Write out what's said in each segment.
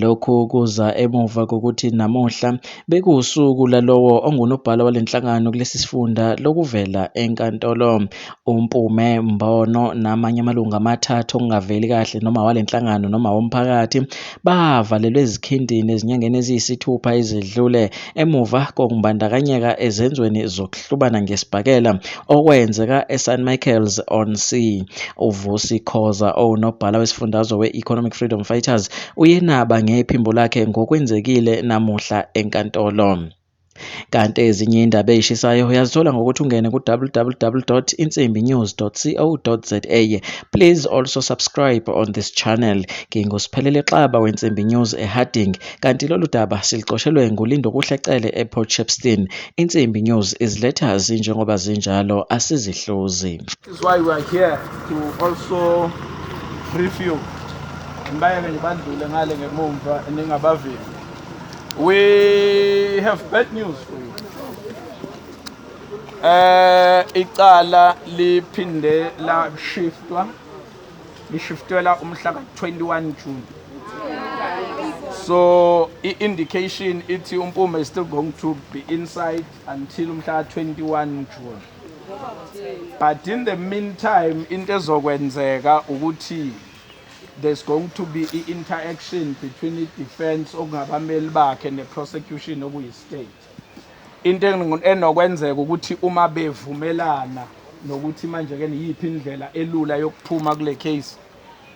Lokhu kuza emuva kokuthi namuhla bekuwusuku lalowo ongunobhala wale nhlangano kulesi sifunda lokuvela enkantolo. UMpume Mbono namanye amalungu amathathu okungaveli kahle noma wale nhlangano noma womphakathi bavalelwe ezikhindini ezinyangeni eziyisithupha ezedlule emuva kokumbandakanyeka ezenzweni zokuhlubana ngesibhakela okwenzeka eSan Michael's on Sea. UVusi Khoza owunobhala wesifundazwe we-Economic Freedom Fighters uyenaba ngephimbo lakhe ngokwenzekile namuhla enkantolo. Kanti ezinye indaba ezishisayo uyazithola ngokuthi ungene ku-www.insimbinews.co.za. Please also subscribe on this channel. Ngingusiphelele Xaba weNsimbi News eHarding. Kanti lolu daba siluqoshelwe nguLindokuhle Cele ePort Shepstone. Insimbi News iziletha zinjengoba zinjalo asizihluzi. This is why we are here to also brief you. Ngibayeke ngibandlule ngale ngemumva ningabavimbi. We have bad news for you. Eh icala liphinde la shiftwa lishiftelwa umhla ka-21 June so i-indication ithi uMpume is still going to be inside until umhla ka-21 June but in the meantime into ezokwenzeka ukuthi there's going to be i-interaction between i-defense okungabameli bakhe ne-prosecution okuyi-state Into enokwenzeka ukuthi uma bevumelana nokuthi manje-ke niyiphi indlela elula yokuphuma kule case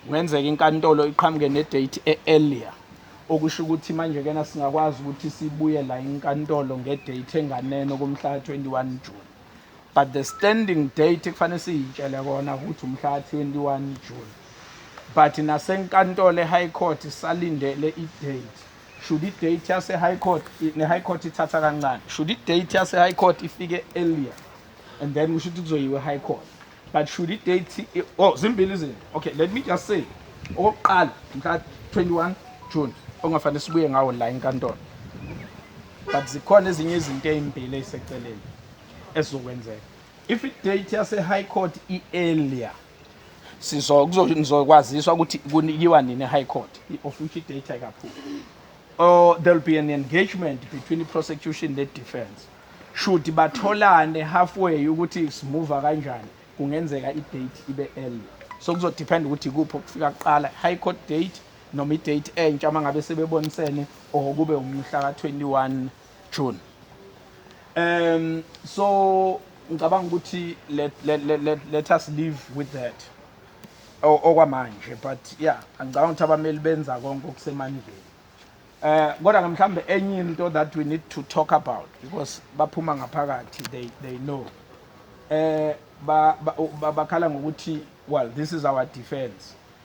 kungenzeka inkantolo iqhamuke ne-date e-earlier okusho ukuthi manje-kena singakwazi ukuthi sibuye la inkantolo nge-date enganeno kumhlaka 21 June but the standing date kufanele siyitshele kona ukuthi umhlaka 21 June but nasenkantolo e-high court salindele i-date should i date yase high court ne high court ithatha kancane should i date yase high court ifike earlier and then kusho ukuthi kuzoyiwe high court but should i date oh zimbili izinto okay let me just say okokuqala mhla 21 June ongafanele sibuye ngawo la enkantolo but zikhona ezinye izinto ezimbili eziseceleni ezizokwenzeka if i date yase high court i earlier sizo kuzokwaziswa ukuthi kunikiwa nini high court i-official data kakhulu or there will be an engagement between the prosecution ne defense should batholane halfway ukuthi simuva kanjani kungenzeka i-date ibe early so kuzodepend ukuthi kuphi okufika kuqala high court date noma i-date entsha uma ngabe sebebonisene or kube umhla ka-21 True. Um so ngicabanga ukuthi let, let, let, let, let us live with that okwamanje but yeah angicabanga ukuthi abameli benza konke okusemandleni eh kodwa mhlambe enye into that we need to talk about because baphuma ngaphakathi they they know eh bakhala ngokuthi well this is our defense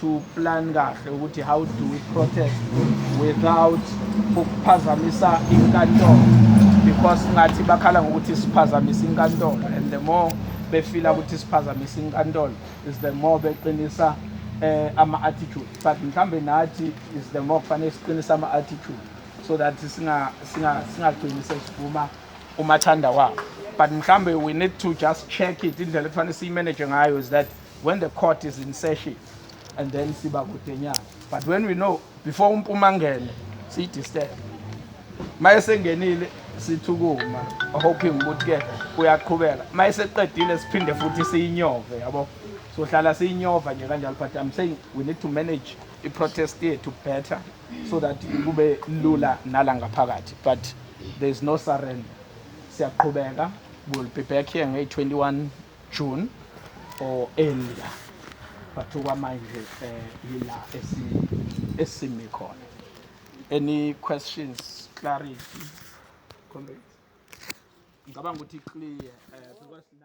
to plan kahle ukuthi how do we protest without ukuphazamisa inkantolo because ngathi bakhala ngokuthi siphazamisa inkantolo and the more befila ukuthi siphazamisa inkantolo is the more beqinisa eh, ama-attitude but mhlawumbe nathi is the more kufanele siqinisa ama-attitude so that singagcini sesivuma umathanda wabo but mhlawumbe we need to just check it indlela ekufanele siyimanage ngayo is that when the court is in session and then siba kudenyana but when we know before umpuma ngene siyidisturb maye sengenile sithukuma hoping ukuthi ke uyaqhubeka maye seqedile siphinde futhi siyinyove yabo sohlala siyinyova nje kanjalo but i'm saying we need to manage i-protest yethu better so that kube lula nala ngaphakathi but there is no surrender siyaqhubeka will be back here ngey-21 June or earlier but okwamanje um yila esimi khona any questions clarity ngicabanga ukuthi clear um